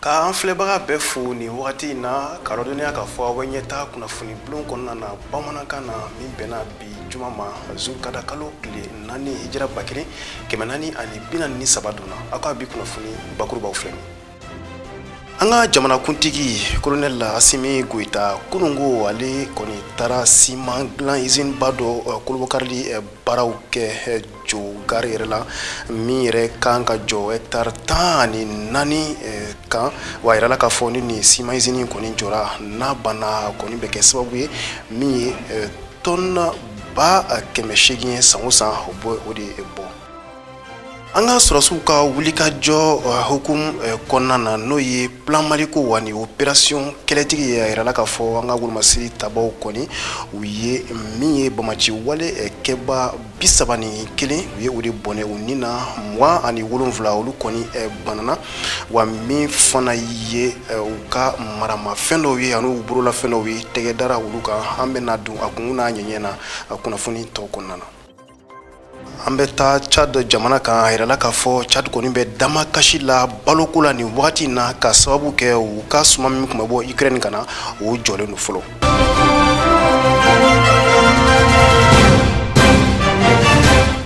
k'an filɛbaga bɛɛ fo nin wagati in na ka lɔdɔnniya k'a fɔ aw bɛ ɲɛtaa kunnafoni bulon kɔnɔna na bamanankan na min bɛnna bi juma ma zulukada kalo tile naani hijira ba kelen kɛmɛ naani ani bi naani ni saba donna aw ka bi kunnafoni bakurubaw filɛ nin an ka jamanakuntigi kolonɛli asimi goyita kunungo ale kɔni taara siman dilan izini ba dɔ kolobokarili baaraw kɛ jogari yɛrɛ la min yɛrɛ kan ka jɔ hɛktare tan ani naani eh, kan wa yirala k'a fɔ ni nin siman izini kɔni jɔra n'a banna kɔni bɛ kɛ sababu ye min ye eh, tɔni ba kɛmɛ seegin ye san o san o de bɔ an ka sɔrɔsiw ka wulikajɔ eh, hukumu kɔnɔna na n'o ye plan maliko wa ni operasiyɔn kɛlɛtigi ye a yirala k'a fɔ an ka wolomasiri tabaw kɔni u ye min ye banbaanci wale kɛba bi saba ni kelen u ye o de bɔnɛ u ni na mugan ani wolonfila olu kɔni eh, bananna wa min fana ye eh, u ka maramafɛn dɔw ye an'u bololafɛn dɔw ye tɛgɛ dara olu kan an bɛna don a kun n'a ɲɛɲɛ na kunnafoni tɔw kɔnɔna na an bɛ taa chad jamana kan a yirala k'a fɔ chad kɔni bɛ damakasi la baloko la nin wagati in na ka sababu kɛ u ka suman min tun bɛ bɔ ukraine ka na o jɔlen don fɔlɔ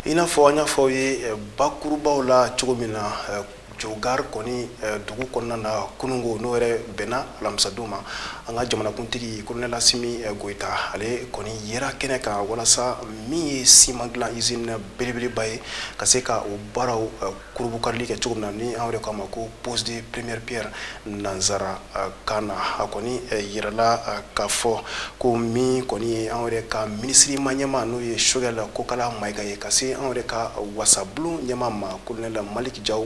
i n'a fɔ an y'a fɔ aw ye eh, bakurubaw la cogo min na eh, jogari kɔni eh, dugu kɔnɔna na kunungo n'o yɛrɛ bɛnna alamisadon ma an ka jamanakuntigi kolonɛl asimi goyita ale kɔni yera kɛnɛ kan walasa min ye siman dilan izini belebeleba ye ka se ka o baaraw kurubukarili kɛ cogo min na ni an yɛrɛ k'a ma ko pose de première pierre nanzara kan na a kɔni yirala k'a fɔ ko min kɔni ye an yɛrɛ ka minisiri ma ɲɛma n'o ye sogɛl kokala mayiga ye ka se an yɛrɛ ka wasabulon ɲɛma ma kolonɛl malik jaw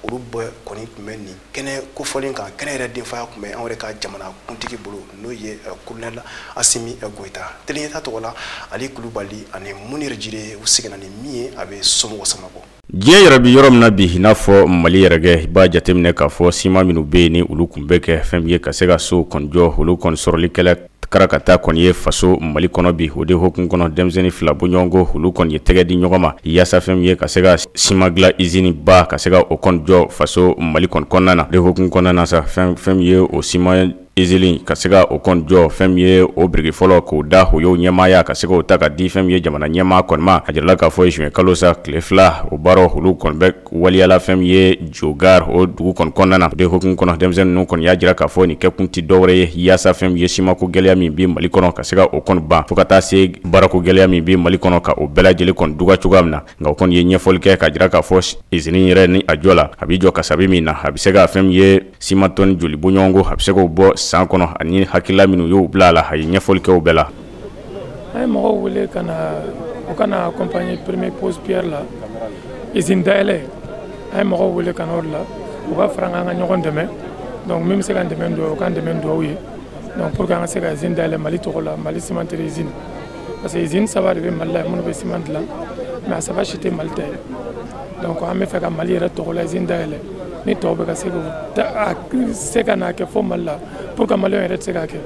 olu bɛɛ kɔni tun bɛ nin kɛnɛ kofɔlen kan kɛnɛ yɛrɛ denfaya tun bɛ an yɛrɛ ka jamanakuntigi bolo n'o ye kolonɛl asimi goyita teleɲɛta tɔgɔ la ali kulubali ani munir jire u seginna ni min ye a bɛ somɔgɔ sama bɔ diɲɛ yɛrɛ bɛ yɔrɔ min na bi i n'a fɔ mali yɛrɛ kɛ i b'a jateminɛ k'a fɔ siman minnu bɛ yen ni olu tun bɛ kɛ fɛn min ye ka se ka so kɔni jɔ olu kɔni sɔrɔli kɛla karakata kɔni ye faso mali kɔnɔ bi o de hukumu kɔnɔ denmisɛnnin fila bɔɲɔgɔnko olu kɔni ye tɛgɛ di ɲɔgɔn ma yaasa fɛn min ye ka se ka siman dilan izini ba ka se ka o kɔni jɔ faso mali kɔni kɔnɔna na de hukumu kɔnɔna na sa fɛn min ye o siman izini ka se ka o kɔni jɔ fɛn min ye o biriki fɔlɔ k'o da u y'o ɲɛmaaya ka se k'o ta ka di fɛn min ye jamana ɲɛmaa kɔni ma a jirala k'a fɔ zuwɛn kalo sa tile fila o baara olu kɔni bɛ waleya la fɛn min ye jogari o dugu kɔni kɔnɔna na o de hukumu kɔnɔ denmisɛnnin ninnu kɔni y'a jira k'a fɔ nin kɛkun tɛ dɔwɛrɛ ye yaasa fɛn min ye simanko gɛlɛya min bɛ mali kɔnɔ ka se ka o kɔni ban fo ka taa se baarako gɛlɛya min bɛ mali kɔnɔ ka o bɛɛ lajɛlen kɔni duga cogoya min na nka o kɔni ye ɲɛfɔli kɛ k'a jira k'a fɔ izini yɛrɛ ni a jɔla a bɛ jɔ kasabi min na a bɛ se ka fɛn ye Siman tɔni joli bɔɲɔgɔnko a bɛ se k'o bɔ san kɔnɔ ani hakilila minnu y'o bila a la a ye ɲɛfɔli kɛ o bɛɛ la a ye mɔgɔw wele ka na u ka na accompagner première pose pierre la izini dayɛlɛ a ye mɔgɔw wele ka na o de la u ka fara an ka ɲɔgɔn dɛmɛ donc min bɛ se ka dɛmɛ don o ka dɛmɛ dugawu ye donc pour que an ka se ka izini dayɛlɛ mali tɔgɔ la mali cimenterie izini parce que izini saba de bɛ mali la minnu bɛ siman dilan mais a saba si tɛ mali ta ye donc an b'a fɛ ka mali yɛrɛ tɔgɔla izini dayɛlɛ ni tɔw bɛ ka se k'u se ka n'a kɛ fo mali la pourquoi maliyɛn yɛrɛ tɛ se k'a kɛ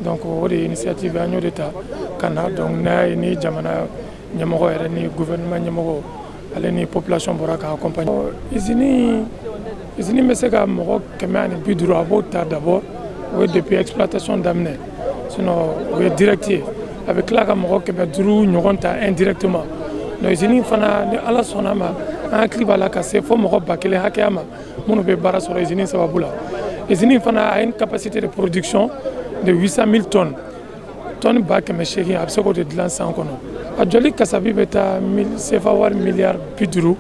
donc o de ye initiative an y'o de ta ka na donc n'a ye ni jamana ɲɛmɔgɔ yɛrɛ ni gouvernement ɲɛmɔgɔ ale ni population bɔra k'a accompagner izini izini bɛ se ka mɔgɔ kɛmɛ ani bi duuru a b'o ta d'abord o ye depuis exploitation daminɛ sinon o ye direct ye a bɛ tila ka mɔgɔ kɛmɛ duuru ɲɔgɔn ta indirectement donc izini fana ni ala sɔnna a ma an hakili b'a la ka se fo mɔgɔ ba kelen hakɛya ma minnu bɛ baara sɔrɔ izini sababu la izini fana a une capacité de production de 800 000 tonnes tɔni ba kɛmɛ seegin a bɛ se k'o de dilan san kɔnɔ a jɔli kasabi bɛ taa sefa wari miliyari bi duuru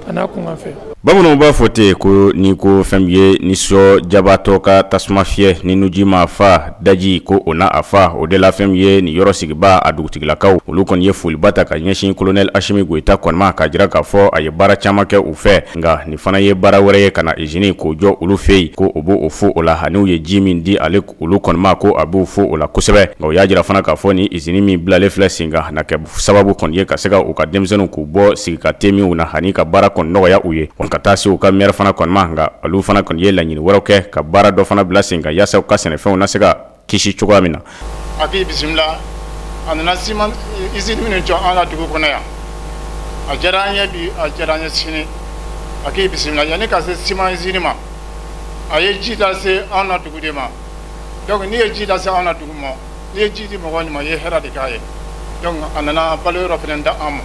a n'a kunkanfɛn bamananw b'a fɔ ten ko ni ko fɛn min ye ni sɔ jabatɔ ka tasuma fiyɛ ni nuji m'a fa daji ko o na a fa o de la fɛn min ye nin yɔrɔ sigibaa dugutigilakaw olu kɔni ye foliba ta ka ɲɛsin kolonɛli Asimi Goyita kɔni ma k'a jira k'a fɔ a ye baara caman kɛ u fɛ nka nin fana ye baara wɛrɛ ye ka na izini k'o jɔ olu fɛ yen ko o b' o fo o la ani u ye ji min di ale olu kɔni ma ko a b'u fo o la kosɛbɛ nka u y'a jira fana k'a fɔ ni izini min bilalen filɛ sen kan na kɛ sababu kɔni ye ka se ka u ka denmisɛnninw k'u bɔ sigi ka te minw na ani ka baara kɔni nɔgɔya u ye ka taa se u ka mɛri fana kɔni ma nka olu fana kɔni ye laɲini wɛrɛw kɛ ka baara dɔ fana bila sen kan yaasa u ka sɛnɛfɛnw na se ka kisi cogoya min na a k'i bisimila a nana siman izini minnu jɔ an ka dugu kɔnɔ yan a diyara an ye bi a diyara an ye sini a k'i bisimila yanni ka se siman izini ma a ye ji lase anw na dugu de ma donc n'i ye ji lase anw na dugu ma n'i ye ji di mɔgɔ min ma i ye hɛrɛ de k'a ye donc a nana balo yɔrɔ fana di an ma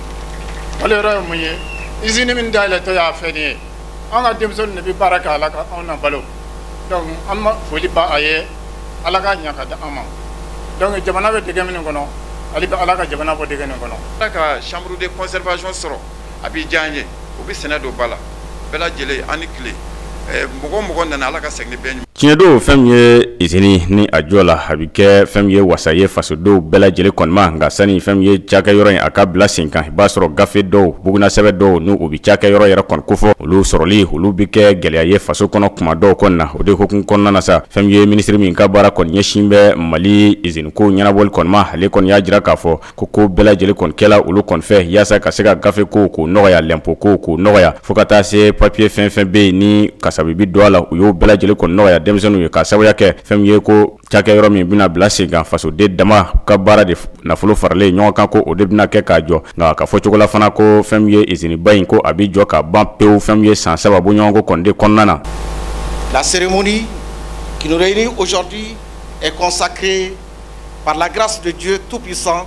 balo yɔrɔ ye mun ye izini min dayɛlɛtɔ yan fɛ nin ye an ka denmisɛnninw de bɛ baara kɛ a la ka anw na balo donc an na foli b'a ye ala ka ɲa ka di an ma donc jamana bɛ degun min kɔnɔ hali bi ala ka jamana bɔ degun nin kɔnɔ an ka chambre de conservation sɔrɔ a bɛ diya an ye o bɛ sɛnɛ don ba la bɛɛ lajɛlen aw ni tile mɔgɔ o mɔgɔ nana ala ka segin bɛɛ ɲuman tiɲɛ don fɛn min ye izini ni a jɔ la a bɛ kɛ fɛn min ye wasa ye fasodenw bɛɛ lajɛlen kɔni ma nka sani fɛn min ye cakɛyɔrɔ in a ka bila sen kan i b'a sɔrɔ gafe dɔw bugunnasɛbɛn dɔw n'o bɛ cakɛyɔrɔ yɛrɛ kɔni kofɔ olu sɔrɔli olu bɛ kɛ gɛlɛya ye faso kɔnɔ kuma dɔw kɔni na o de hukumu kɔnɔna na sa fɛn min ye minisiri min ka baara kɔni ɲɛsin bɛ mali iziniko ɲɛnabɔli kɔni ma ale kɔni y'a jira k'a fɔ ko ko bɛɛ lajɛlen kɔni kɛla olu kɔni fɛ yaasa ka se ka gafe ko k'o nɔgɔya lɛnpo ko k'o nɔgɔya fo ka taa se papiye fɛn fɛn bɛ yen ni kasabi bɛ don a la u y'o bɛɛ lajɛlen kɔni nɔgɔya denmisɛnninw ye k'a sababuya kɛ fɛn min ye ko cakɛyɔrɔ min bɛna bila sen kan fasoden dama ka baara de nafolo faralen ɲɔgɔn kan ko o de bɛna kɛ k'a jɔ nka ka fɔcogo la fana ko fɛn min ye iziniba in ko a bɛ jɔ ka ban pewu fɛn min ye san saba bɔɲɔgɔnko kɔni de kɔnɔna na La cérémonie qui nous réunit aujourd'hui est consacrée Par la grâce de Dieu Tout-Puissant,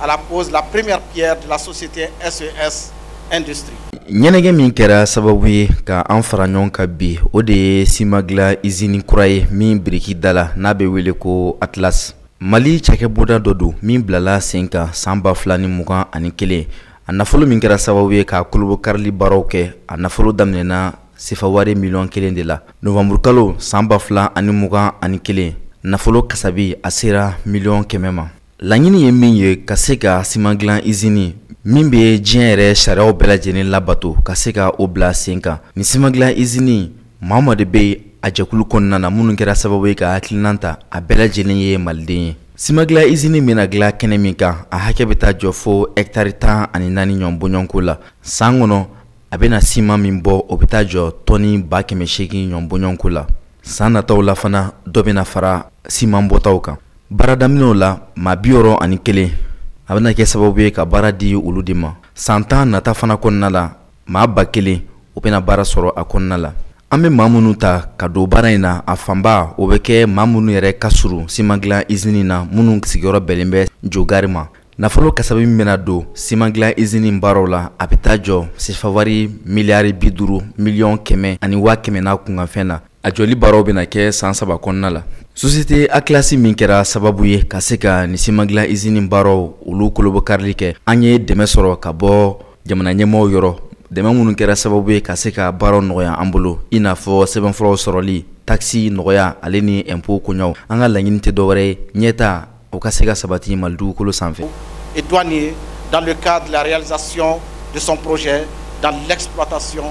à la pose la première pierre de la société SES e Industrie. ɲɛnajɛ min kɛra sababu ye ka an fara ɲɔgɔn kan bi o de ye siman dilan izini kura ye min biriki dala n'a bɛ wele ko atlas mali cakɛbonda dɔ don min bilala sen kan san ba fila ni mugan ani kelen a nafolo min kɛra sababu ye k'a kolobakarili baaraw kɛ a nafolo daminɛna sefa wari miliyɔn kelen de la novanburukalo san ba fila ani mugan ani kelen nafolo kasabi a sera miliyɔn kɛmɛ ma laɲini ye min ye ka se ka siman dilan izini min bɛ diɲɛ yɛrɛ sariyaw bɛɛ lajɛlen labato ka se ka o bila sen kan ni siman dilan izini maa maa de bɛ a jɛkulu kɔnɔna na minnu kɛra sababu ye ka hakilinan ta a bɛɛ lajɛlen ye maliden ye siman dilan izini bɛna dilan kɛnɛ min kan a hakɛ bɛ taa jɔ fo hɛkitari tan ani naani ɲɔgɔn bɔɲɔgɔnko la san kɔnɔ a bɛna siman min bɔ o bɛ taa jɔ tɔni ba kɛmɛ seegin ɲɔgɔn bɔɲɔgɔnko la san nataw la fana dɔ bɛna fara siman bɔtaw kan baara daminɛw la maa bi wɔɔrɔ ani kelen a bɛna kɛ sababu ye ka baara di olu de ma san tan nata fana kɔnɔna la maa ba kelen o bɛna baara sɔrɔ a kɔnɔna la an bɛ maa minnu ta ka don baara in na a fanba o bɛ kɛ maa minnu yɛrɛ ka surun siman dilan izini na minnu sigiyɔrɔ bɛnnen bɛ jogari ma Nafolo kasabi min bɛna don siman dilan izini baaraw la a bɛ taa jɔ sefa wari miliyari bi duuru miliyɔn kɛmɛ ani waa kɛmɛ n'a kunkanfɛn na a jɔli baaraw bɛna kɛ san saba kɔnɔna la sosiyete atlas min kɛra sababu ye ka se ka nin siman dilan izini baaraw olu kolobakarili kɛ an ye dɛmɛ sɔrɔ ka bɔ jamana ɲɛmɔgɔw yɔrɔ dɛmɛ minnu kɛra sababu ye ka se ka baaraw nɔgɔya an bolo i n'a fɔ sɛbɛnfuraw sɔrɔli takisi nɔgɔyali ni ɛnpo koɲaw an ka laɲini tɛ dɔwɛrɛ ye ɲɛtaa o ka se ka sabati mali dugukolo sanfɛ et douanier dans le cadre de la réalisation de son projet dans l'exploitation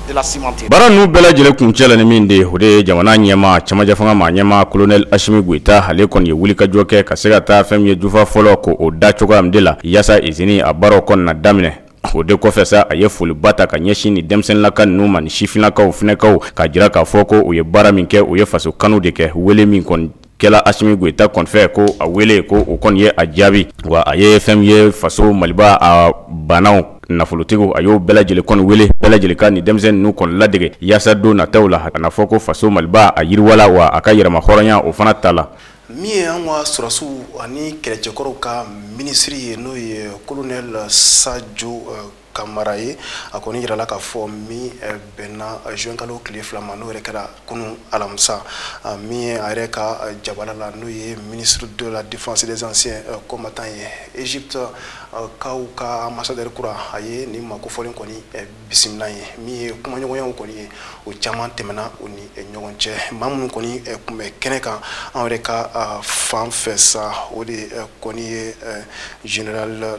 de la cimenterie. Baara ninnu bɛɛ lajɛlen kuncɛla ni min de ye o de ye jamana ɲɛmaa cɛmancɛ fanga maa ɲɛmaa colonel Asimi Goyita ale kɔni ye wulikajɔ kɛ ka se ka taa fɛn min ye tufa fɔlɔ k'o da cogoya min de la yaasa izini a baaraw kɔni na daminɛ o de kɔfɛ sa a ye foliba ta ka ɲɛsin ni denmisɛnninlaka ninnu ma ni sifinnakaw funankɛw k'a jira k'a fɔ ko u ye baara min kɛ u ye faso kanu de kɛ wele min kɔni kɛla asimi goyita kɔni fɛ ko a wele ko o kɔni ye a jaabi wa a ye fɛn min ye faso maliba a baanaw nafolotigiw a y'o bɛɛ lajɛlen kɔni wele bɛɛ lajɛlen ka ni denmisɛnnin ninnu kɔni ladege yaasa don nataw la a n'a fɔ ko faso maliba a yiriwala wa a ka yɛrɛmahɔrɔnya o fana tala min ye an ka sɔrɔsiw ani kɛlɛcɛkɔrɔw ka minisiri ye n'o ye kolonɛli sajo kamara ye a kɔni yirala k'a fɔ min eh, bɛnna eh, juin kalo tile fila ma n'o yɛrɛ kɛra kunu alamisa ah, min ye a yɛrɛ ka eh, jabala la n'o ye ministre de la défense des anciens combattants ye egypte kaw ka ambassadeur kura a ye nin maa kofɔlen kɔni bisimila yen min ye kumaɲɔgɔnyaw kɔni ye o caman tɛmɛna u ni ɲɔgɔn cɛ maa minnu kɔni tun bɛ kɛnɛ kan an yɛrɛ ka ah, fan fɛ sa o de kɔni ye general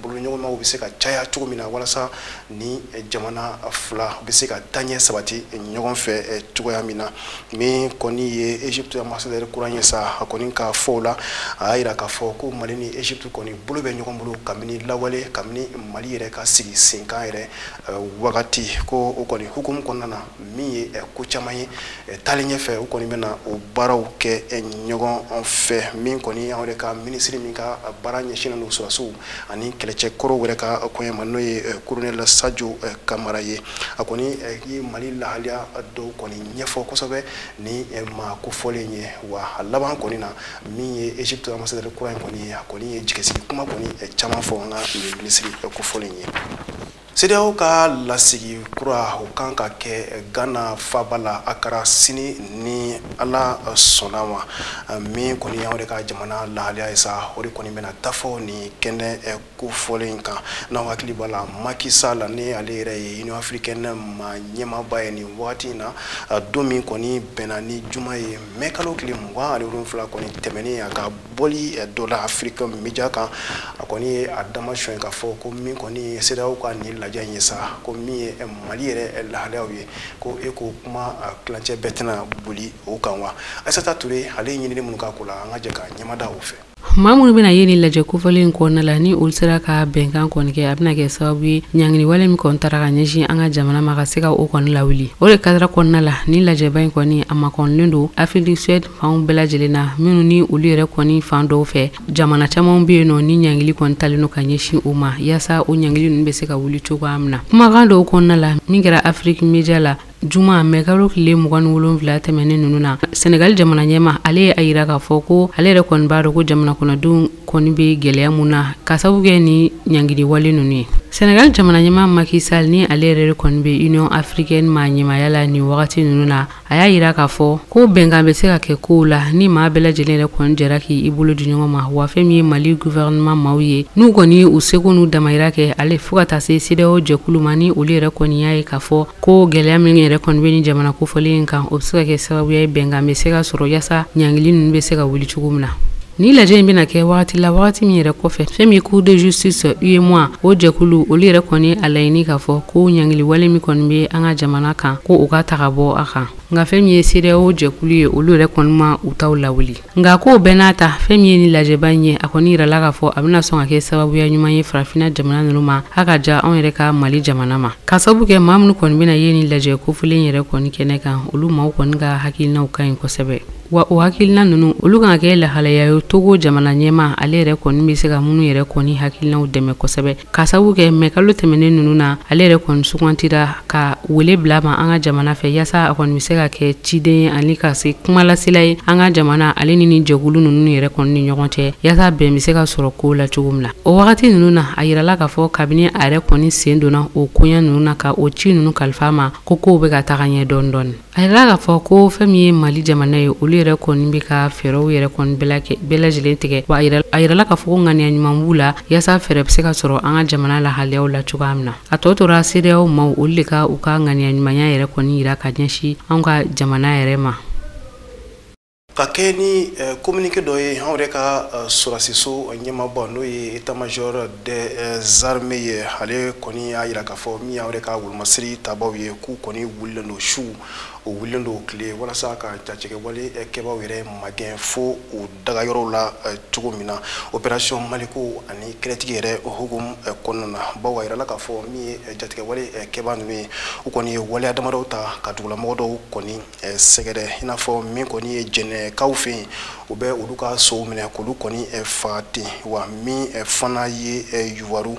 boloɲɔgɔnmaw bɛ se ka caya cogo min na walasa ni jamana fila bɛ se ka taɲɛ sabati ɲɔgɔn fɛ eh, cogoya min na min kɔni ye egypte ambassadɛri kura ye sa a kɔni ka fɔw la a y'a yira k'a fɔ ko mali ni egypte kɔni bolo bɛ ɲɔgɔn bolo kabini lawale kabini mali yɛrɛ ka sigi senkan yɛrɛ eh, wagati ko o kɔni hukumu kɔnɔna na min ye eh, ko caman ye eh, taalen ɲɛfɛ u kɔni bɛna o baaraw kɛ eh, ɲɔgɔn fɛ min kɔni anw yɛrɛ ka minisiri min ka baara ɲɛsinnen don sɔrɔsiw ani kɛlɛcɛkɔrɔw yɛrɛ ka kɔɲɛ ma n'o ye kolonɛli sajo kamara ye a kɔni ye mali lahaliya dɔw kɔni ɲɛfɔ kosɛbɛ nin maa kofɔlen ye wa a laban kɔni na min ye egypte ambassadɛri kura in kɔni ye a kɔni ye jigisigi kuma kɔni caman fɔ an ka minisiri kofɔlen ye CEDEAO ka lasigi kura o kan ka kɛ Ghana faaba la a kɛra sini ni Ala sɔnna ma min kɔni y'anw de ka jamana lahaliya ye sa o de kɔni bɛna taa fɔ nin kɛnɛ eh, kofɔlen in kan n'aw hakili b'a la Macky Sall ni ale yɛrɛ ye Union africaine ma ɲɛmaaba ye nin wagati in na don min kɔni bɛnna ni juma ye mɛkalo tile mugan ani wolonwula kɔni tɛmɛnen a ka bɔli eh, dɔ la afiriki media kan a kɔni ye a dama sɔn k'a fɔ ko min kɔni ye CEDEAO ka nin lajɛ in ye sa ko min ye eh, mali yɛrɛ eh, lahaliyaw ye ko i ko kuma tilancɛ bɛɛ tɛna boli o kan wa aisata ture ale ye ɲinini minnu k'a ko la an ka jɛ ka ɲɛmada o fɛ maa minnu bɛna ye nin lajɛ kofɔlen in kɔnɔna la ni olu sera ka bɛnkan kɔni kɛ a bɛna kɛ sababu ye ɲanginiwale min kɔni tara ka ɲɛsin an ka jamana ma ka se ka o kɔni lawuli o de kadara kɔnɔna la ni lajɛba in kɔni a makɔnilen don afiriki du sud fanw bɛɛ lajɛlen na minnu ni olu yɛrɛ kɔni fan dɔw fɛ jamana caman bɛ yen nɔ ni ɲangili kɔni talen don ka ɲɛsin o ma yaasa o ɲangili ninnu bɛ se ka wuli cogoya min na kumakan dɔw kɔnɔna la min kɛra afiriki media la juma mɛkalo tile mugan ni wolonwula tɛmɛnen ninnu na senegali jamana ɲɛmaa ale ye a yira k'a fɔ ko ale yɛrɛ kɔni b'a dɔn ko jamana kɔnɔdenw kɔni bɛ gɛlɛya mun na k'a sabu kɛ ni ɲangiliwale ninnu ye senegali jamana ɲɛmaa Macky Sall ni ale yɛrɛ kɔni bɛ union africaine ma ɲɛmaaya la nin wagati ninnu na a y'a yira k'a fɔ ko bɛnkan bɛ se ka kɛ kow la ni maa bɛɛ lajɛlen yɛrɛ kɔni jɛra k'i i bolo di ɲɔgɔn ma wa fɛn min ye mali guvɛrɛnɛman maaw ye n'u kɔni u seko n'u damayira kɛ ale fo ka taa se sedeyaw jɛkulu ma ni olu yɛrɛ kɔni y'a ye k'a fɔ ko gɛlɛya min yɛrɛ kɔni bɛ ni jamana kofɔlen in kan o bɛ se ka kɛ sababuya ye bɛnkan bɛ se ka sɔrɔ yaasa ɲangili ninnu bɛ se ka wuli cogo min na Ni lajɛ in bɛna kɛ wagati la wagati min yɛrɛ kɔfɛ fɛn min ye cour de justice UEMOA o jɛkulu olu yɛrɛ kɔni a laɲini k'a fɔ ko ɲangili wale min kɔni bɛ an ka jamana kan ko o ka ta ka bɔ a kan nka fɛn min ye sedeyaw jɛkulu ye olu yɛrɛ kɔni ma u taw lawuli nka ko bɛɛ n'a ta fɛn min ye ni lajɛba in ye a kɔni yirala k'a fɔ a bɛna sɔn ka kɛ sababuya ɲuman ye farafinna jamana ninnu ma a ka jan anw yɛrɛ ka mali jamana ma k'a sababu kɛ maa minnu kɔni bɛna ye ni lajɛ kofɔlen yɛrɛ kɔni kɛnɛ kan olu maaw kɔni ka hakilinaw ka ɲi kosɛbɛ Wa o hakilina ninnu olu kan ka kɛ lahalaya ye togo jamana ɲɛmaa ale yɛrɛ kɔni bɛ se ka minnu yɛrɛ kɔni hakilinaw dɛmɛ kosɛbɛ k'a sabu kɛ mai kalo tɛmɛnen ninnu na ale yɛrɛ kɔni sugantira ka wele bila ma an ka jamana fɛ yaasa a kɔni bɛ se ka kɛ ciden ani ka se kumalasela ye an ka jamana ale ni ni jɛkulu ninnu yɛrɛ kɔni ni ɲɔgɔn cɛ yaasa bɛn bɛ se ka sɔrɔ kow la cogo min na o wagati ninnu na a yirala k'a fɔ kabini a yɛrɛ kɔni sen donna o koɲɛ ninnu na ka o ci ninnu kalifa ma ko kow bɛ ka taga ɲɛ dɔɔni dɔɔni A yirala k'a fɔ ko fɛn min ye mali jamana ye olu yɛrɛ kɔni bɛ ka fɛɛrɛw yɛrɛ kɔni bɛɛ lajɛlen tigɛ wa a yirala k'a fɔ ko ŋaniya ɲuman b'u la yaasa fɛɛrɛ bɛ se ka sɔrɔ an ka jamana lahalayaw la cogoya min na a tɔ tora sedeyaw maaw olu de ka u ka ŋaniya ɲumanya yɛrɛ kɔni yira ka ɲɛsin an ka jamana yɛrɛ ma ka kɛ ni kominike dɔ ye anw yɛrɛ ka sɔrɔsiso ɲɛmaaba n'o ye état-major des armées ye ale kɔni y'a yira k'a fɔ min ye anw yɛrɛ ka wolomasiri tabaw ye k'u kɔni wulilen don su u wulilen don tile walasa ka jatigɛwale kɛbaw yɛrɛ magɛn fo u dagayɔrɔw la cogo min na operasiyɔn maliko ani kɛlɛtigi yɛrɛ hukumu kɔnɔna na bawo a yirala k'a fɔ min ye jatigɛwale kɛba ninnu ye u kɔni ye waleya damadɔw ta ka dugulamɔgɔ dɔw kɔni sɛgɛrɛ i n'a fɔ min kɔni ye jɛnɛkaw fɛ yen u bɛ olu ka sow minɛ k'olu kɔni faga ten wa min fana ye yuwaru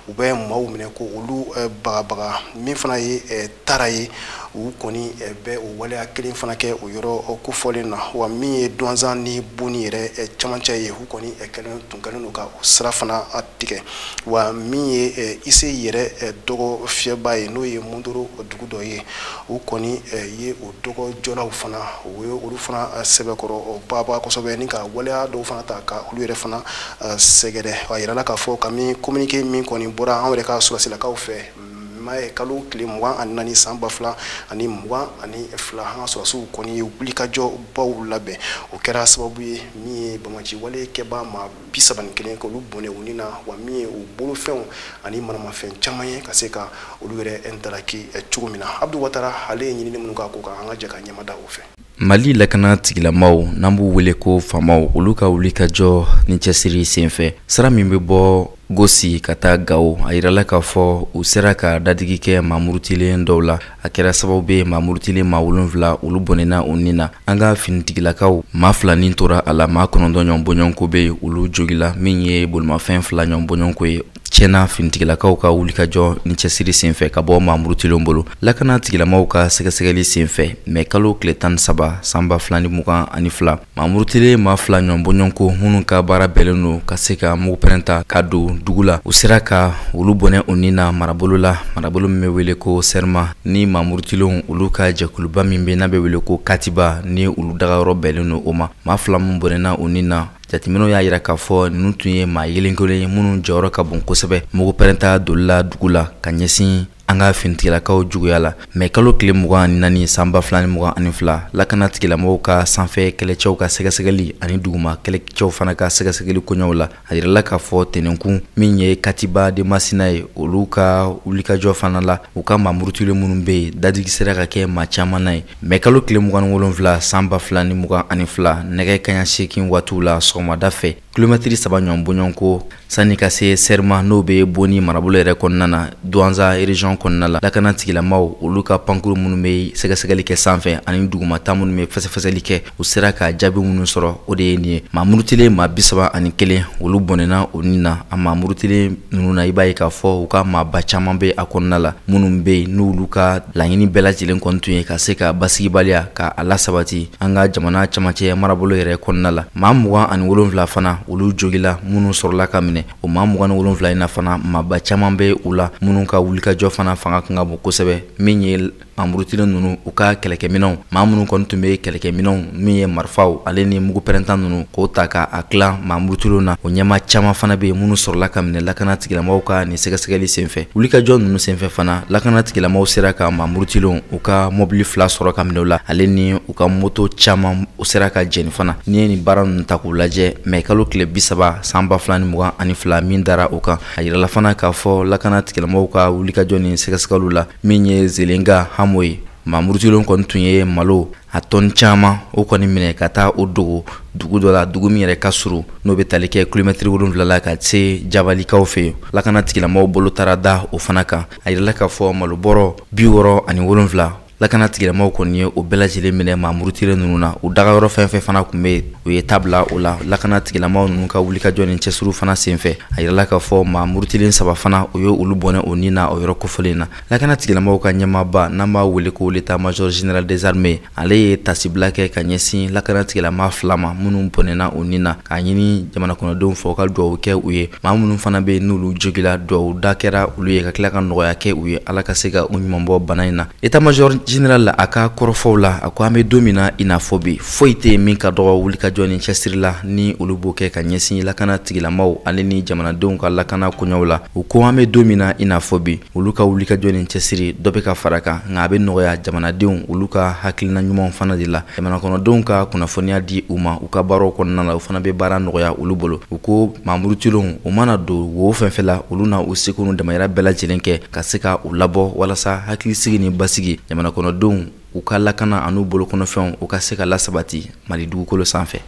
u bɛ maaw minɛ k'olu bagabaga min fana ye tara ye u kɔni bɛ o waleya kelen fana kɛ o yɔrɔ kofɔlen na wa min ye duwanzan ni boni yɛrɛ camancɛ ye u kɔni kɛlen tun kɛlen don ka o sira fana tigɛ wa min ye eh, ise yɛrɛ eh, dɔgɔ fiyɛba ye n'o ye mundoro dugu dɔ ye u kɔni eh, ye o dɔgɔ jɔlaw fana u ye olu fana sɛbɛkɔrɔ bagabaga kosɛbɛ ni ka waleya dɔw fana ta ka olu yɛrɛ fana sɛgɛrɛ a yirala k'a fɔ ka min communiqué min kɔni bɔra an yɛrɛ ka sɔrɔsilakaw fɛ mɛ kalo tile mugan ani naani san ba fila ani mugan ani fila an ka sɔrɔsiw kɔni ye wulikajɔ baw labɛn o kɛra sababu ye min ye bamaci wale kɛbaa maa bi saba ni kelen k'olu bɔnɛ u ni na wa min ye u bolofɛnw ani manamafɛn caman ye ka se ka olu yɛrɛ halaki cogo min na abdu watara ale ye ɲinini minnu k'a ko kan an ka jɛ ka ɲɛmada o fɛ mali lakana tigilamaw n'an b'u wele ko famaw olu ka wulikajɔ ni cɛsiri senfɛ sira min bɛ bɔ gosi ka taa gawo a yirala k'a fɔ u sera ka dadigi kɛ mamurutilen dɔw la a kɛra sababu bɛ mamurutilen maa wolonfila olu bɔnɛna u ni na an ka finitigilakaw maa fila ni tora a la maa kɔnɔntɔn ɲɔgɔn bɔɲɔgɔnko bɛ yen olu jogila min ye bolimafɛn fila ɲɔgɔn bɔɲɔgɔnko ye tiɲɛna finitigilakaw ka wulikajɔ ni cɛsiri senfɛ ka bɔ mamurutilenw bolo lakana tigilamaw ka sɛgɛsɛgɛli senfɛ mɛ kalo tile tan ni saba sanba fila ni mugan ani fila mamurutilen maa fila ɲɔnbɔɲɔnko minnu ka baara bɛɛlen don ka se ka mugu pɛrɛnta ka don dugu la u sera ka olu bɔnɛ u ni na marabolo la marabolo min bɛ wele ko sɛrima ni mamurutilenw olu ka jɛkuluba min bɛ n'a bɛ wele ko katiba ni olu dagayɔrɔ bɛɛlen don o ma maa fila min bɔnɛna u ni na jateminɛw y'a yira k'a fɔ ninnu tun ye maa yelenkelen ye minnu jɔyɔrɔ ka bon kosɛbɛ mugu pɛrɛnta doli la dugu la ka ɲɛsin an ka finitigilakaw juguya la mɛ kalo tile mugan ni naani sanba fila ni mugan ani fila lakana tigilamɔgɔw ka sanfɛ kɛlɛcɛw ka sɛgɛsɛgɛli ani duguma kɛlɛcɛw fana ka sɛgɛsɛgɛli koɲɛw la a yirala k'a fɔ tɛnɛnkun min ye katiba de masina ye olu ka wulikajɔ fana la u ka mamurutilen minnu bɛ yen dadigi sera ka kɛ maa caman na ye mɛ kalo tile mugan ni wolonfila san ba fila ni mugan ani fila nɛgɛ kaɲa seegin waatiw la sɔgɔmada fɛ kilomɛtiri saba ɲɔgɔn bɔɲɔgɔnko sanni ka se sɛrima n'o bɛ boni marabolo yɛrɛ kɔnɔna na duwanza erezɔn kɔnɔna la lakana tigilamaw olu ka pankuru minnu bɛ sɛgɛsɛgɛli kɛ sanfɛ ani dugumata minnu bɛ fɛsɛfɛsɛli kɛ u sera ka jaabi minnu sɔrɔ o de ye nin ye maa murutilen maa bi saba ani kelen olu bɔnɛna u ni na a maa murutilen ninnu na i b'a ye k'a fɔ u ka maaba caman bɛ a kɔnɔna la minnu bɛ yen n'olu ka laɲini bɛɛ lajɛlen kɔni tun ye ka se ka basigibaliya ka a lasabati an ka jamana camancɛ marabolo yɛrɛ kɔnɔna la maa mugan ani wolonfila fana olu jogila minnu sɔrɔla ka minɛ o maa mugan ni wolonfila in na fana maaba caman bɛ u la minnu ka wulikajɔ fana fanga kan ka bon kosɛbɛ min ye Mamurutilen ninnu u ka kɛlɛkɛminɛnw maa minnu kɔni tun bɛ kɛlɛkɛminɛnw min ye marifaw ale ni mugu pɛrɛnta ninnu k'o ta k'a tila mamurutilenw na o ɲɛma caman fana bɛ yen minnu sɔrɔla ka minɛ lakana tigilamaw ka nin sɛgɛsɛgɛli senfɛ wulikajɔ ninnu senfɛ fana lakana tigilamaw sera ka mamurutilenw u ka mɔbili fila sɔrɔ ka minɛ u la ale ni u ka moto caman u sera ka jeni fana n'i ye nin baara ninnu ta k'u lajɛ mɛ kalo tile bi saba sanba fila ni mugan ani fila min dara o kan a yirala fana k'a fɔ lakana tigilamɔgɔw ka wulikajɔ ni sɛgɛsɛgɛliw la min ye zelenka hamo ye mamurutilenw kɔni tun ye malo a tɔni caman o kɔni minɛ ka taa o dogo dugu dɔ la dugu min yɛrɛ ka surun n'o bɛ tali kɛ kilomɛtiri wolonwula la ka se jabalikaw fɛ yen lakana tigilamɔgɔw bolo taara da o fana kan a yirala k'a fɔ malobɔrɔ bi wɔɔrɔ ani wolonwula lakana tigilamaw kɔni ye o bɛɛ lajɛlen minɛ mamurutilen ninnu na u dagayɔrɔ fɛn fɛn fana kun bɛ u ye ta bila o la lakana tigilamaw ninnu ka wulikajɔ ni cɛsiriw fana senfɛ a yirala k'a fɔ mamurutilen saba fana u ye olu bɔnɛ o ni na o yɔrɔ kofɔlen na lakana tigilamaw ka ɲɛmaaba n'an b'a wele ko l'état major général des armées ale ye tasibila kɛ ka ɲɛsin lakana tigilama fila ma minnu bɔnɛna o ni na k'a ɲini jamanakɔnɔdenw fɛ u ka dugawu kɛ u ye maa minnu fana bɛ n'olu jogila dugawu da kɛra olu ye ka tila ka nɔgɔya kɛ u ye ala ka se ka u ɲuman bɔ bana in na état major général la a ka kɔrɔfɔw la a ko an bɛ don min na i n'a fɔ bi foyi tɛ yen min ka dɔgɔ wulikajɔ ni cɛsiri la ni olu b'o kɛ ka ɲɛsin lakana tigilamaw ale ni jamanadenw ka lakana koɲɛw la u ko an bɛ don min na i n'a fɔ bi olu ka wulikajɔ ni cɛsiri dɔ bɛ ka fara kan nka a bɛ nɔgɔya jamanadenw olu ka hakilina ɲumanw fana de la jamanakɔnɔdenw ka kunnafoniya di u ma u ka baaraw kɔnɔna la u fana bɛ baara nɔgɔya olu bolo u ko mamurutilenw u mana don wo fɛn fɛn la olu na u seko n'u damayira bɛɛ lajɛlen kɛ ka se ka u labɔ walasa hakilisigi ni basigi jamanakɔnɔdenw u ka lakana an'u bolokɔnɔfɛnw u ka se ka lasabati mali dugukolo sanfɛ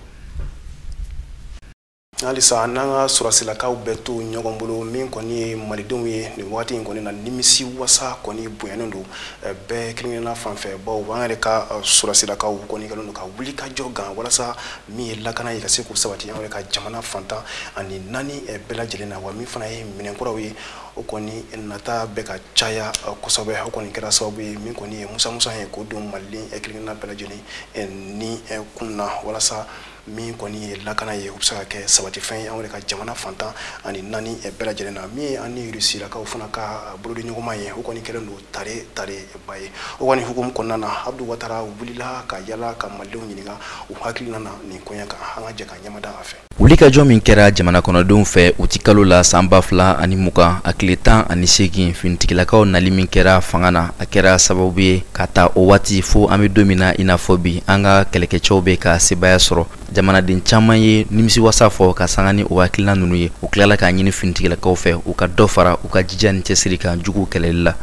halisa n'an ka sɔrɔsilakaw bɛɛ to ɲɔgɔn bolo min kɔni ye malidenw ye nin wagati in kɔni na nimisi wasa kɔni bonyanen don eh, bɛɛ kelenkelenna fan fɛ bawo an yɛrɛ ka eh, sɔrɔsilakaw kɔni kɛlen don ka wuli ka jɔ gan walasa min ye lakana ye ka se k'o sabati an yɛrɛ ka jamana fan tan ani naani eh, bɛɛ lajɛlen na wa min fana ye minɛn kuraw ye o kɔni nata bɛ ka caya kosɛbɛ o kɔni kɛra sababu ye min kɔni ye musamusa ye k'o don maliden kelenkelenna bɛɛ lajɛlen ni kun na walasa min kɔni ye lakana ye o bɛ se ka kɛ sabatifɛn ye an yɛrɛ ka jamana fan tan ani naani bɛɛ lajɛlen na min ye an ni rusilakaw fana ka bolodiɲɔgɔnma ye o kɔni kɛlen don tare tareba ye o kɔni hukumu kɔnɔna na abdu watara wulila ka yala ka malidenw ɲininka u hakilina na nin koɲɛ kan an ka jɛ ka ɲɛmada a fɛ wulikajɔ min kɛra jamana kɔnɔdenw fɛ utikalo la san ba fila ani mugan a tile tan ani seegin finitigilakaw nali min kɛra fanga na a kɛra sababu ye ka ta o waati fo an be don min na i n'a fɔ bi an ka kɛlɛkɛcɛw be ka sebaaya sɔrɔ jamanaden caaman ye nimisi wasa fɔ ka sanga ni o hakilina nunu ye u tilala k'a ɲini finitigilakaw fɛ u ka dɔ fara u ka jija ni cɛsiri kan juguw kɛlɛli la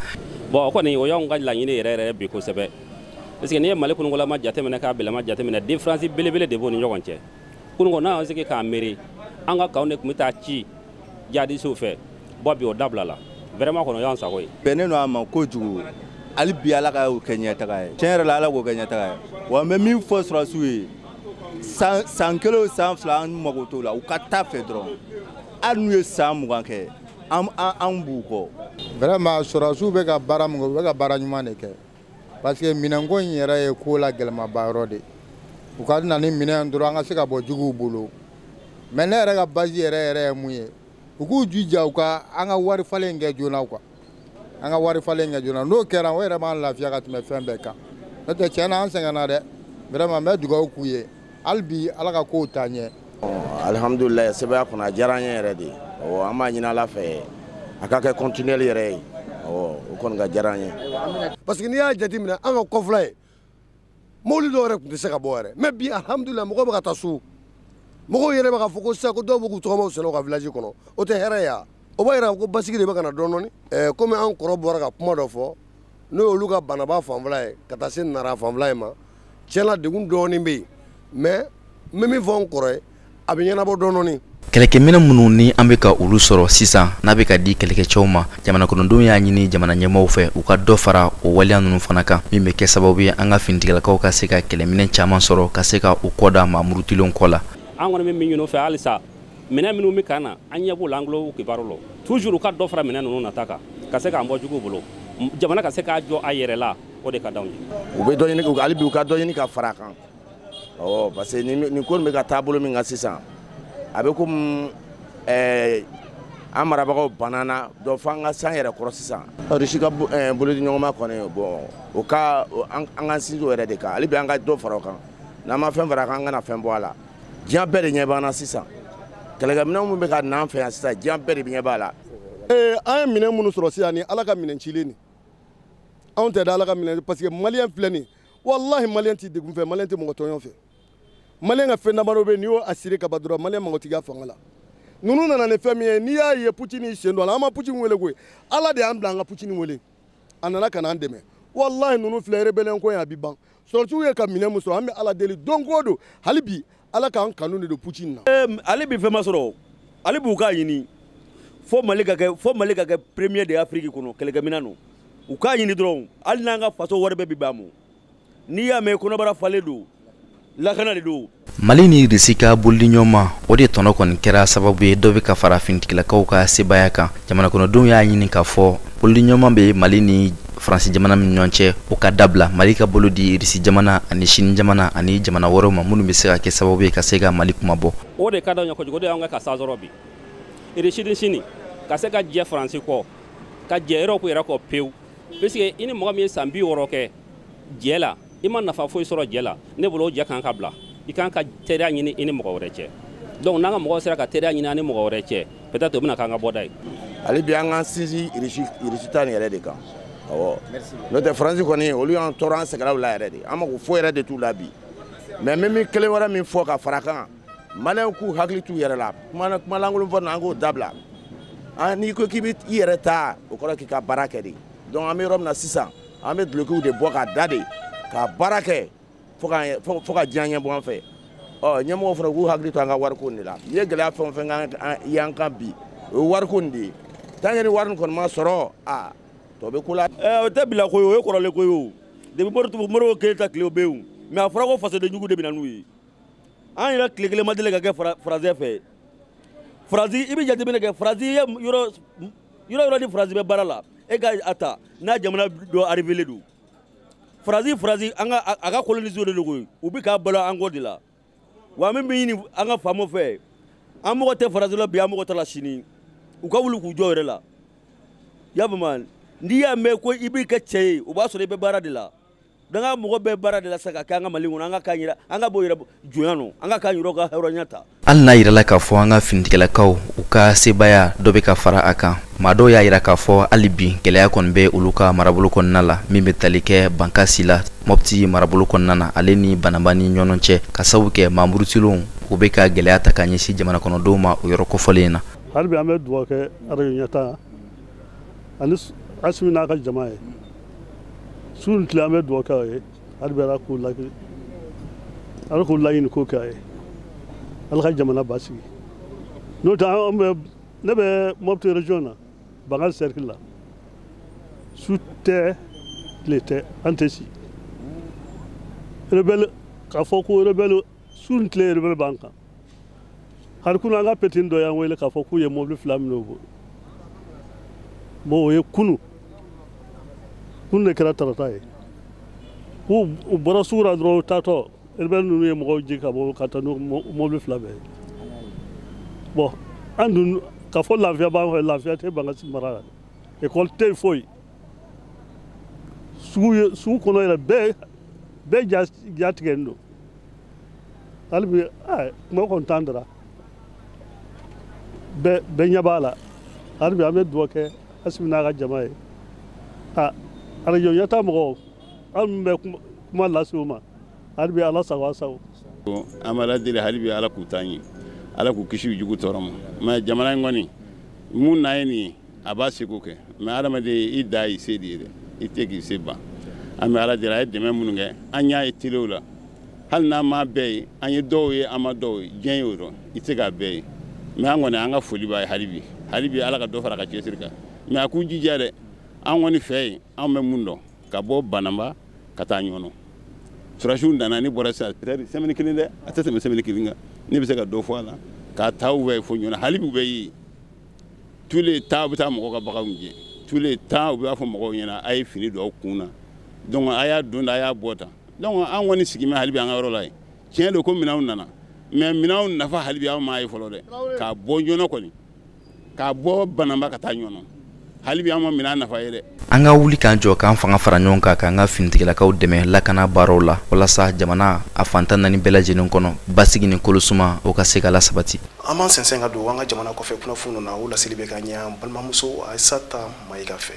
bon o kɔni o y'anw ka laɲini yɛrɛ yɛrɛ bi kosɛbɛ puisque n'i ye mali kunugolama jateminɛ k'a bilama jateminɛ différence belebele de b'o ni ɲɔgɔn cɛ kunugo n'an y'an sigi k'an miiri an ka kanw de tun be taa ci jihadisiw fɛ bɔ bi o dabilala vraiment kɔni o y'an sago ye bɛnnen don a ma kojugu hali bi ala k'o kɛ ɲɛtaga ye tiɲɛ yɛrɛ la ala k'o kɛ ɲɛtaga ye wa n bɛ min fɔ sɔrɔsiw ye san kelen o san fila an mago t'o la u ka taa a fɛ dɔrɔn hali n'u ye san mugan kɛ an b'u kɔ vraiment sɔrɔsiw bɛ ka baara min kɛ u bɛ ka baara ɲuman de kɛ parce que minɛnko in yɛrɛ ye ko la gɛlɛmaba yɔrɔ de u ka na ni minɛn dɔrɔn an ka se ka bɔ juguw bolo mais ne yɛrɛ ka base yɛrɛ yɛrɛ ye mun ye u k'u jija u ka an ka wari falen kɛ joona quoi an ka wari falen kɛ joona n'o kɛra o yɛrɛ b'an lafiya ka tɛmɛ fɛn bɛɛ kan n'o tɛ tiɲɛ na an sɛgɛnna dɛ vraiment n bɛ dugawu k'u ye hali bi ala ka kow taa ɲɛ alihamdulilayi sɛbɛya kɔnɔ a diyara an ye yɛrɛ de ɔ an b'a ɲini ala fɛ a ka kɛ continuel yɛrɛ ye ɔ o kɔni ka diyara an ye parce que n'i y'a jateminɛ an ka kɔfɛla ye mobili dɔw yɛrɛ tun tɛ se ka bɔ yɛrɛ mais bi alihamdulilayi mɔgɔw bɛ ka taa so mɔgɔw yɛrɛ bɛ ka fɔ ko sisan ko dɔw bɛ k'u tɔgɔmaw sɛnɛ u ka village kɔnɔ o tɛ hɛrɛ ye wa o b'a jira ko basigi de bɛ ka na dɔɔni dɔɔni komi an kɔrɔ bɔra ka kuma dɔ fɔ n'o y'olu ka banamba fanfɛla ye ka taa se nara fanfɛla ye ma tiɲɛ na degun dɔɔnin bɛ yen mais n bɛ min fɔ n kɔrɔ ye a bɛ ɲɛnabɔ dɔɔnin dɔɔnin kɛlɛkɛminɛn minnu ni an bɛ ka olu sɔrɔ sisan n'a bɛ ka di kɛlɛkɛcɛw ma jamana kɔnɔdenw y'a ɲini jamana ɲɛmɔgɔw fɛ u ka dɔ fara o waleya ninnu fana kan min bɛ kɛ sababu ye an ka finitigilakaw ka se ka kɛlɛminɛn caman sɔrɔ ka se ka u kɔ da maa murutilenw kɔ la an kɔni bɛ min ɲini u fɛ halisa minɛn minnu bɛ ka na an ɲɛ b'o la an tulo kibaru la toujours u ka dɔ fara minɛn ninnu nata kan ka se k'an bɔ juguw bolo jamana ka se k'a jɔ a yɛrɛ la o de ka d'anw ye. u bɛ dɔ ɲini hali bi u ka dɔ ɲini ka fara a kan ɔ parce que nin ko nin bɛ ka taabolo min kan sisan a bɛ komi ɛɛ an marabagaw bannen don fo an ka s'an yɛrɛ kɔrɔ sisan rusi ka eh, bolodiɲɔgɔnma kɔni bɔn o ka an ka sinsin o yɛrɛ de kan hali bi an ka dɔ fara o kan n'an ma fɛn fara a kan an kana fɛn bɔ a la diɲɛ bɛɛ de ɲɛ b'an na sisan kɛlɛkɛminɛn minnu bɛ ka n'an fɛ yan sisan diɲɛ bɛɛ de ɲɛ b'a la ee an ye minɛn minnu sɔrɔ sisan ni ala ka minɛn cilen nin anw tɛ da ala ka minɛn parce que maliyɛn filɛ nin walahi maliyɛn tɛ degun fɛ maliyɛn tɛ mɔgɔ tɔɲɔ fɛ maliyɛn ka fɛn damadɔ bɛ yen n'i y'o assuré ka ban dɔrɔn maliyɛn mago t'i ka fanga la ninnu nana ni fɛn min ye n'i y'a ye putin y'i sen don a la an ma putin wele koyi ala de y'an bila an ka putin wele a nana ka n'an dɛmɛ walahi ninnu filɛ rebellion ko in a bɛ ban sɔrɔsiw ye ka minɛn min sɔrɔ an bɛ ala deli don go don hali bi ala k'an kanu de don putin na hali bi fɛn ma sɔrɔ hali bi u k'a ɲini fo mali ka kɛ fo mali ka kɛ premier de afrique kɔnɔ kɛlɛkɛminɛn na u k'a ɲini dɔrɔn hali n'an ka faso wari bɛɛ bi ban mɔ n'i y'a mɛn kɔnɔbara falen don lakana de don mali ni irisi ka bolodiɲɔgɔnma o de tɔnɔ kɔni kɛra sababu ye dɔ bɛ ka fara finitigilakaw ka sebaaya kan jamanakɔnɔdenw y'a ɲini k'a fɔ bolodiɲɔgɔnma bɛ mali ni faransi jamana min ɲɔgɔn cɛ o ka dabila mali ka bolo di irisi jamana ani sini jamana ani jamana wɛrɛw ma minnu bɛ se ka kɛ sababu ye ka se ka mali kunmabɔ o de ka d'anw ye kojugu o de y'anw ka ka sasɔrɔ bi irisi ni sini ka se ka jɛ faransi kɔ ka jɛ erɔpu yɛrɛ kɔ pewu puisque i ni mɔgɔ min ye san bi wɔɔrɔ kɛ jɛ la i ma nafa foyi sɔrɔ jɛ la ne bolo o jɛ kan ka bila i kan ka teriya ɲini i ni mɔgɔ wɛrɛ cɛ donc n'an ka mɔgɔw sera ka teriya ɲini an ni mɔgɔ wɛrɛ cɛ peut-être o bɛna k'an ka bɔda ye hali bi an k'an sinsin irisi ta yɛrɛ de kan awɔ n'o tɛ faransi kɔni olu y'an tɔɔrɔ an sɛgɛnna u la yɛrɛ de an mako foyi yɛrɛ de t'u la bi mais n bɛ kelen wɛrɛ min fɔ ka fara kan maliyɛnw k'u hakili t'u yɛrɛ la kumalankolon fɔ na an k'o dabila n'i ko k'i bɛ i yɛrɛ ta o kɔrɔ k'i ka baara kɛ de donc an bɛ yɔrɔ min na sisan an bɛ dulokiw de bɔ k'a da de ka baara kɛ fo ka diɲɛ ɲɛ bɔ an fɛ ɔ ɲɛmɔgɔ fana k'u hakili to an ka wariko nin de la n'i ye gɛlɛya fɛn o fɛn y'an kan bi o ye wariko nin de ye tant que ni wari nin kɔni ma sɔrɔ a tɔ bɛ ko la. ɛɛ o tɛ bi la ko ye o ye kɔrɔlen ko ye o depuis modibo modibo keyita tile o bɛ yen o mais a fɔra ko fasoden jugu de bɛ na n'u ye an yɛrɛ tile kelen ma deli ka kɛ faransi fɛ faransi i bɛ jateminɛ kɛ faransi ye yɔrɔ yɔrɔ yɔrɔ ni faransi bɛ baara la e ka a ta n'a jamana dɔ arrivelen don faransi faransi an ka a ka koloniso de don koyi u bɛ ka balo an kɔ de la wa min bɛ ɲini an ka faamaw fɛ an mako tɛ faransi la bi an mako t'a la sini u ka wuli k'u jɔ yɛrɛ la y'a faamuya n'i y'a mɛn ko i b'i kɛ cɛ ye o b'a sɔrɔ i bɛ baara de la donc an mako bɛ baara de la sa ka kɛ an ka mali kɔnɔ an ka k'an yɛrɛ an ka bɔ yɛrɛ jɔnya nɔ an ka k'an yɛrɛ ka hɔrɔnya ta hali n'a yirala k'a fɔ an ka finitigilakaw u ka sebaaya dɔ bɛ ka fara a kan maa dɔw y'a yira k'a fɔ hali bi gɛlɛya kɔni bɛ olu ka marabolo kɔnɔna la min bɛ tali kɛ bankasi la mɔpti marabolo kɔnɔna na ale ni banaba ni ɲɔgɔn cɛ k'a sabu kɛ maa murutilenw u bɛ ka gɛlɛya ta ka ɲɛsin jamana kɔnɔdenw ma o yɔrɔ kofɔlen na hali bi an bɛ dugawu kɛ arajo ɲɛtaa ani asimi n'a ka jama ye su ni tile an bɛ dugawu kɛ a ye hali bi ala k'u laki ala k'u laɲini ko kɛ a ye ala ka jamana basigi n'o tɛ an bɛ ne bɛ mɔputi région na bankasi cercle la su tɛ tile tɛ an tɛ si rebelle k'a fɔ ko rebelle su ni tile rebelle b'an kan hali kunu an ka petini dɔ y'an wele k'a fɔ k'u ye mobili fila minɛ u bolo bon o ye kunu kunu de kɛra tarata ye u bɔra sugu la dɔrɔn u taatɔ rebelle ninnu ye mɔgɔw jigin ka bɔ ka taa n'u mobili fila bɛɛ ye bon an dun k'a fɔ lafiya b'an fɛ lafiya tɛ bankasi mara la ekɔli tɛ yen foyi sugu kɔnɔ yɛrɛ bɛɛ bɛɛ jatigɛlen don hali bi kuma kɔni t'an da ra bɛɛ ɲɛ b'a la hali bi an bɛ dugawu kɛ asimi n'a ka jama ye a arajo ɲɛtaa mɔgɔw aw min bɛ kuma lase u ma hali bi ala sago a sago an b'ala deli hali bi ala k'u taa ɲɛ ala k'u kisi u jugu tɔɔrɔ ma mais jamana in kɔni mun na ye nin ye a b'a seko kɛ mais adamaden i dan y'i se de ye dɛ i tɛ k'i se ban an bɛ ala deli a ye dɛmɛ minnu kɛ an y'a ye telew la hali n'an m'a bɛɛ ye an ye dɔw ye an ma dɔw ye diɲɛ y'o dɔn i tɛ k'a bɛɛ ye mais an kɔni an ka foli b'a ye hali bi hali bi ala ka dɔ fara a ka cɛsiri kan mais a k'u jija dɛ an kɔni fɛ yen an bɛ mun dɔn ka bɔ bananba ka taa ɲɔnɔ surasiw nana ni bɔra sisan peut-être semaine kelen dɛ a tɛ tɛmɛ semaine kelen kan ne bɛ se ka dɔ fɔ a la k'a taa u bɛ fo ɲɔnɔ hali bi u bɛ ye tous les temps u bɛ taa mɔgɔw ka baganw gɛn tous les temps u b'a fɔ mɔgɔw ɲɛna a ye fini don aw kun na donc a y'a don tan a y'a bɔ tan donc an kɔni sigimɛ hali bi an ka yɔrɔ la yen tiɲɛ don ko minɛnw nana mais minɛnw nafa hali bi an m'a ye fɔlɔ dɛ k'a bɔ ɲɔnɔ kɔni k'a bɔ bananba ka taa ɲɔnɔ hali bi an ma minɛn nafa ye dɛ an ka wuli k'an jɔ k'an fanga fara ɲɔgɔn kan k'an ka finitigilakaw dɛmɛ lakana baaraw la walasa jamana a fan tan naani bɛɛ lajɛlen kɔnɔ basigi ni kolosuma o ka se ka lasabati an b'an sɛnsɛn ka don an ka jamana kɔfɛ kunnafoniw na o laseli bɛ ka ɲɛ an balimamuso ayisata mayiga fɛ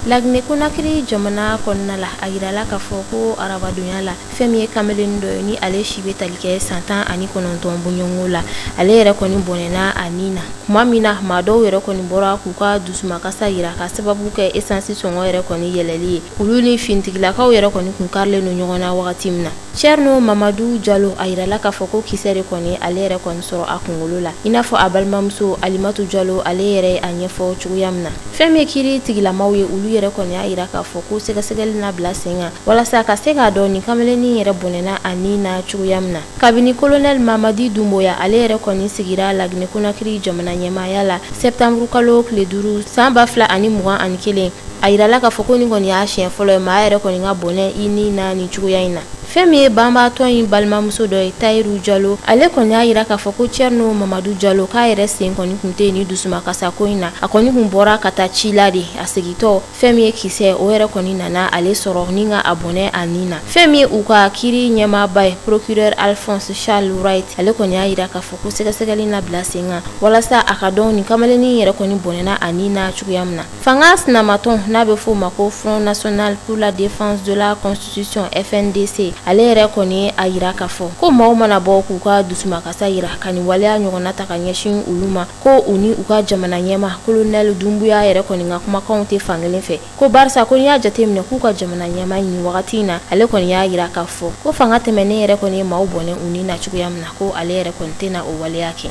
laginɛ konakiri jamana kɔnɔna la a yirala k'a fɔ ko arabadonya la fɛn min ye kamalennin dɔ ye ni ale si bɛ tali kɛ san tan ani kɔnɔntɔn bɔɲɔgɔnko la ale yɛrɛ kɔni bɔnɛna a ni na kuma min na maa dɔw yɛrɛ kɔni bɔra k'u ka dusumakasa yira ka sababu kɛ esansi sɔngɔ yɛrɛ kɔni yɛlɛli ye olu ni finitigilakaw yɛrɛ kɔni kun karilen don ɲɔgɔn na wagati min na cɛrno mamadu jalo a yirala k'a fɔ ko kisɛ de kɔni ale yɛrɛ kɔni sɔrɔ a kungolo la i n'a fɔ a balimamuso alimatu jalo ale yɛrɛ a ɲɛfɔ cogoya min na fɛn min ye kiri tigilamaw ye olu yɛrɛ kɔni y'a yira k'a fɔ ko sɛgɛsɛgɛli na bila sen kan walasa ka se k'a dɔn nin kamalennin yɛrɛ bɔnɛna a ni na cogoya min na kabini kolonɛli mamadi dunboya ale yɛrɛ kɔni sigira laginɛ konakiri jamana ɲɛmaaya la sɛptanburu kalo tile duuru san ba fila ani mugan ani kelen a yirala k'a fɔ ko nin kɔni y'a siɲɛ fɔlɔ ye maa yɛrɛ kɔni ka bɔnɛ i ni na nin cogoya in na fɛn min ye banbaatɔ in balimamuso dɔ ye tayiru jalo ale kɔni y'a yira k'a fɔ ko cɛrino mamadu jalo k'a yɛrɛ sen kɔni kun tɛ ni dusumakasako in na a kɔni kun bɔra ka taa ci la de a segitɔ fɛn min ye kisɛ o yɛrɛ kɔni nana ale sɔrɔ ni ka a bɔnɛ a ni na fɛn min ye u ka kiri ɲɛmaaba ye procureur alphonse charles wright ale kɔni y'a yira k'a fɔ ko sɛgɛsɛgɛli na bila sen kan walasa a ka dɔn nin kamalennin yɛrɛ kɔni bɔnɛna a ni na cogoya min na fanga sinamatɔn n'a bɛ f'o ma ko front national pour la défense de la constitution fndc ale yɛrɛ kɔni a yira k'a fɔ ko maaw mana bɔ k'u ka dusumakasa yira ka nin waleya ɲɔgɔnna ta ka ɲɛsin olu ma ko u ni u ka jamana ɲɛma kolonɛli dunbuya yɛrɛ kɔni ka kumakanw tɛ fankelen fɛ ko barisa ko n'i y'a jateminɛ k'u ka jamana ɲɛma nin wagati in na ale kɔni y'a yira k'a fɔ ko fanga tɛmɛnen yɛrɛ kɔni ye maaw bɔnɛ u ni na cogoya min na ko ale yɛrɛ kɔni tɛna o waleya kɛ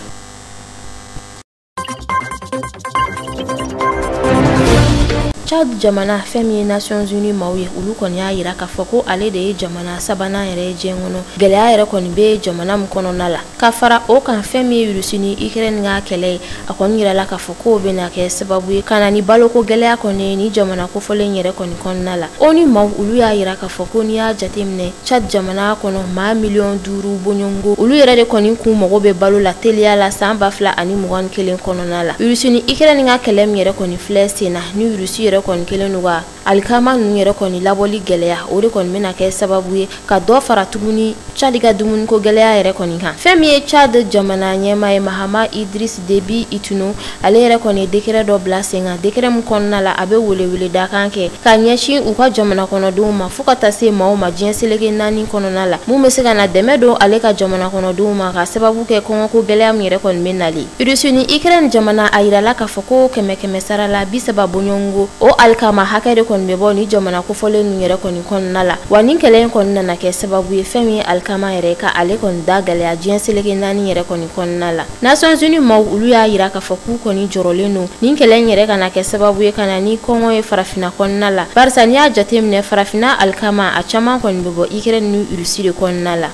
Chad jamana fɛn min ye Nations Unies maaw ye olu kɔni y'a yira k'a fɔ ko ale de ye jamana sabanan yɛrɛ ye diɲɛ kɔnɔ gɛlɛya yɛrɛ kɔni bɛ jamana min kɔnɔna la ka fara o kan fɛn min ye Russie ni Ukraine ka kɛlɛ ye a kɔni yirala k'a fɔ k'o bɛna kɛ sababu ye ka na ni baloko gɛlɛya kɔni ye nin jamana kofɔlen yɛrɛ kɔni kɔnɔna la ONU maaw olu y'a yira k'a fɔ ko n'i y'a jateminɛ Tchad jamana kɔnɔ maa miliyɔn duuru bɔɲɔngo olu yɛrɛ de kɔni k'u mago bɛ balo la teliya la san ba fila ani mugan ni kelen kɔnɔna la Russie ni Ukraine ka kɛlɛ min yɛrɛ kɔni filɛ sen na nin Russie yɛrɛ kɔni kelen don ka alikama ninnu yɛrɛ kɔni labɔli gɛlɛya o de kɔni bɛna kɛ sababu ye ka dɔ fara tuguni Chad ka dumuniko gɛlɛya yɛrɛ kɔni kan fɛn min ye Chad jamana ɲɛma ye Mahamat Idriss Déby Itno ale yɛrɛ kɔni ye dekɛrɛ dɔ bila sen kan dekɛrɛ min kɔnɔna la a bɛ weleweledakan kɛ ka ɲɛsin u ka jamana kɔnɔdenw ma fɔɔ ka taa se maaw ma diɲɛ seleke naani kɔnɔna la min bɛ se ka na dɛmɛ don ale ka jamana kɔnɔdenw ma ka sababu kɛ kɔngɔko gɛlɛya min yɛrɛ kɔni bɛ nali Russie ni Ukraine jamana a yirala k'a fɔ ko kɛmɛ kɛmɛ sara la bi saba bɔɲɔngo o alikama hakɛ de kɔni bɛ bɔ nin jamana kofɔlen ninnu yɛrɛ kɔni kɔnɔna la wa nin kɛlɛ in kɔni nana kɛ sababu ye fɛn min ye alikama yɛrɛ ka ale kɔni da gɛlɛya diɲɛ seleke naani yɛrɛ kɔni kɔnɔna la Nations Unies maaw olu y'a yira k'a fɔ k'u kɔni jɔrɔlen don nin kɛlɛ in yɛrɛ kana kɛ sababu ye ka na ni kɔngɔ ye farafina kɔnɔna la barisa n'i y'a jateminɛ farafina alikama a caman kɔni bɛ bɔ Ukraine ni Russie de kɔnɔna la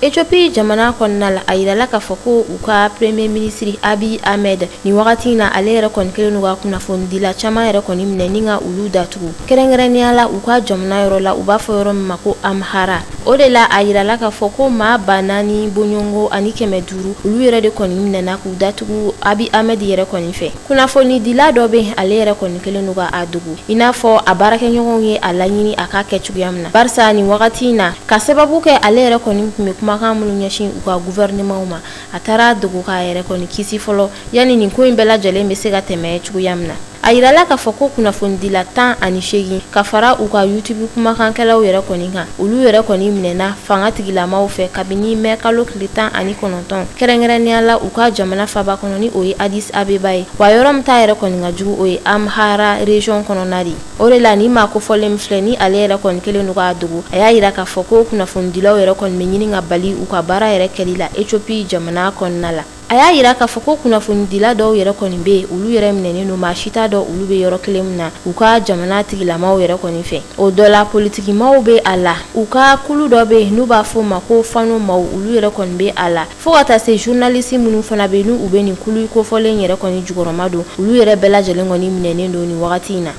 Ethiopie jamana kɔnɔna la a yirala k'a fɔ ko u ka premier ministre Abiy Ahmed nin wagati in na ale yɛrɛ kɔni kɛlen don ka kunnafonidila caman yɛrɛ kɔni minɛ ni ka olu datugu kɛrɛnkɛrɛnnenya la u ka jamana yɔrɔ la u b'a fɔ yɔrɔ min ma ko Amhara o de la a yirala k'a fɔ ko maa ba naani bɔɲɔngo ani kɛmɛ duuru olu yɛrɛ de kɔni minɛna k'u datugu Abiy Ahmed yɛrɛ kɔni fɛ kunnafonidila dɔ bɛ yen ale yɛrɛ kɔni kelen don ka a dogo i n'a fɔ a baarakɛɲɔgɔnw ye a laɲini a k'a kɛ cogoya min na barisa nin wagati in na ka sababu kɛ ale yɛrɛ kɔni tun bɛ kumakan minnu ɲɛsin u ka guvɛrinɛmanw ma a taara a dogo k'a yɛrɛ kɔni kisi fɔlɔ yanni nin ko in bɛɛ lajɛlen bɛ se ka tɛmɛ cogoya min na a yirala k'a fɔ ko kunnafonidila tan ani seegin ka fara u ka youtube kumakankɛlaw yɛrɛ kɔni kan olu yɛrɛ kɔni minɛna fanga tigilamaw fɛ kabini mɛ kalo tile tan ani kɔnɔ Dɔn kɛrɛnkɛrɛnnenya la u ka jamana faba kɔnɔ ni o ye Addis Abeba ye wa yɔrɔ min ta yɛrɛ kɔni ka jugu o ye Amhara reziyɔn kɔnɔna de o de la nin maa kofɔlen min filɛ nin ale yɛrɛ kɔni kelen don k'a dogo a y'a yira k'a fɔ ko kunnafonidilaw yɛrɛ kɔni bɛ ɲini ka bali u ka baara yɛrɛ kɛli la Ethiopie jamana kɔnɔna la a y'a yira k'a fɔ ko kunnafonidila dɔw yɛrɛ kɔni bɛ yen olu yɛrɛ minɛnen don maa si t'a dɔn olu bɛ yɔrɔ kelen min na u ka jamana tigilamaw yɛrɛ kɔni fɛ o dɔ la politikimaw bɛ a la u ka kulu dɔ bɛ yen n'u b'a fɔ o ma ko fanu maw olu yɛrɛ kɔni bɛ a la fo ka taa se journaliste minnu fana bɛ yen n'u bɛ nin kulu kofɔlen yɛrɛ kɔni jukɔrɔma don olu yɛrɛ bɛɛ lajɛlen kɔni minɛnen don nin wagati in na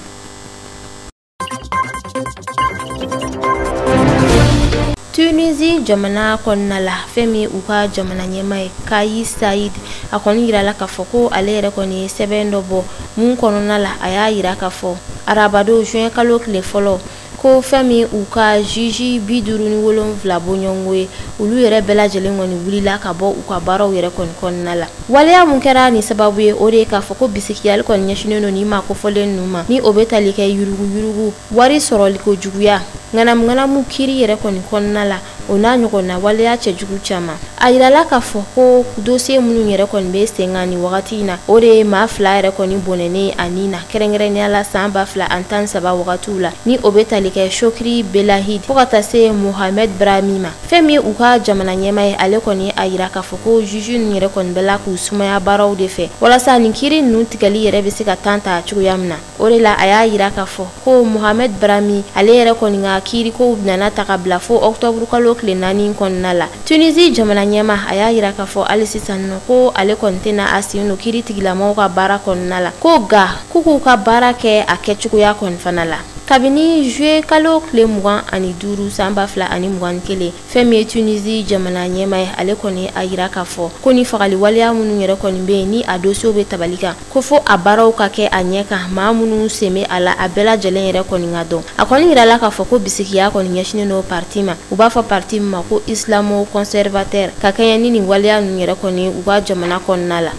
tunisi jamana kɔnɔna la fɛn min ye u ka jamana ɲɛma ye kais saied a kɔni yirala k'a fɔ ko ale yɛrɛ kɔni ye sɛbɛn dɔ bɔ mun kɔnɔna la a y'a yira k'a fɔ arabadon juin kalo tile fɔlɔ ko fɛn min u ka juge bi duuru ni wolonwula bɔɲɔnko ye olu yɛrɛ bɛɛ lajɛlen kɔni wulila ka bɔ u ka baaraw yɛrɛ kɔni kɔnɔna la waleya mun kɛra ni sababu ye o de ye k'a fɔ ko bisigiyali kɔni ɲɛsinnen don nin maa kofɔlen ninnu ma ni o bɛ tali kɛ yuruguyurugu wari sɔrɔliko juguya ŋanamuŋanamu kiri yɛrɛ kɔni kɔnɔna la o n'a ɲɔgɔnna waleya cɛjugu caman a yirala k'a fɔ ko dosiye minnu yɛrɛ kɔni bɛ sen kan ni wagati in na o de ye maa fila yɛrɛ kɔni bɔnɛnen a ni na kɛrɛnkɛrɛnnenya la san ba fila ani tan ni saba wagatiw la ni o bɛ tali kɛ chokri belaid fo ka taa se mohamed brahmi ma fɛn min u ka jamana ɲɛma ye ale kɔni a yira k'a fɔ ko juge ninnu yɛrɛ kɔni bɛla k'u sumaya baaraw de fɛ walasa nin kiri ninnu tigɛli yɛrɛ bɛ se ka temps ta cogoya min na o de la a y'a yira k'a fɔ ko mohamed brahmi ale yɛrɛ kɔni ka kiirikow nana ta ka bila fo octobre kalo tile naani kɔnɔna la tunisi jamana ɲɛma a y'a yira k'a fɔ hali sisan nɔ ko ale kɔni tɛna a sen don kiri tigɛlamɔgɔw ka baara kɔnɔna la ko nka k'u k'u ka baara kɛ a kɛcogoya kɔni fana la kabini juillet kalo tile mugan ani duuru san ba fila ani mugan ni kelen fɛn min ye tunisi jamana ɲɛma ye ale kɔni a yira k'a fɔ ko ni fagali waleya minnu yɛrɛ kɔni bɛ yen ni a dosiyew bɛ tabali kan ko fo a baaraw ka kɛ a ɲɛ kan maa minnu sen bɛ a la a bɛɛ lajɛlen yɛrɛ kɔni ka dɔn a kɔni yirala k'a fɔ ko bisigiya kɔni ɲɛsinnen don parti ma u b'a fɔ parti min ma ko islamo conservateur ka kɛɲɛ ni nin waleya ninnu yɛrɛ kɔni u ka jamana kɔnɔna la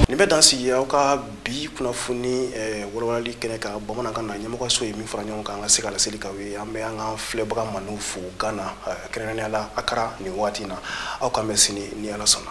nin bɛ dan sigi aw ka bi kunnafoni eh, walawalali kɛnɛ kan bamanankan na ɲɛmɔgɔyaso ye min fara ɲɔgɔn kan an ka se ka laseli k'aw ye an bɛ an ka filɛbaga mandiw fo gana eh, kɛrɛnkɛrɛnnenya la akara nin waati na aw k'an bɛn sini ni ala sɔnna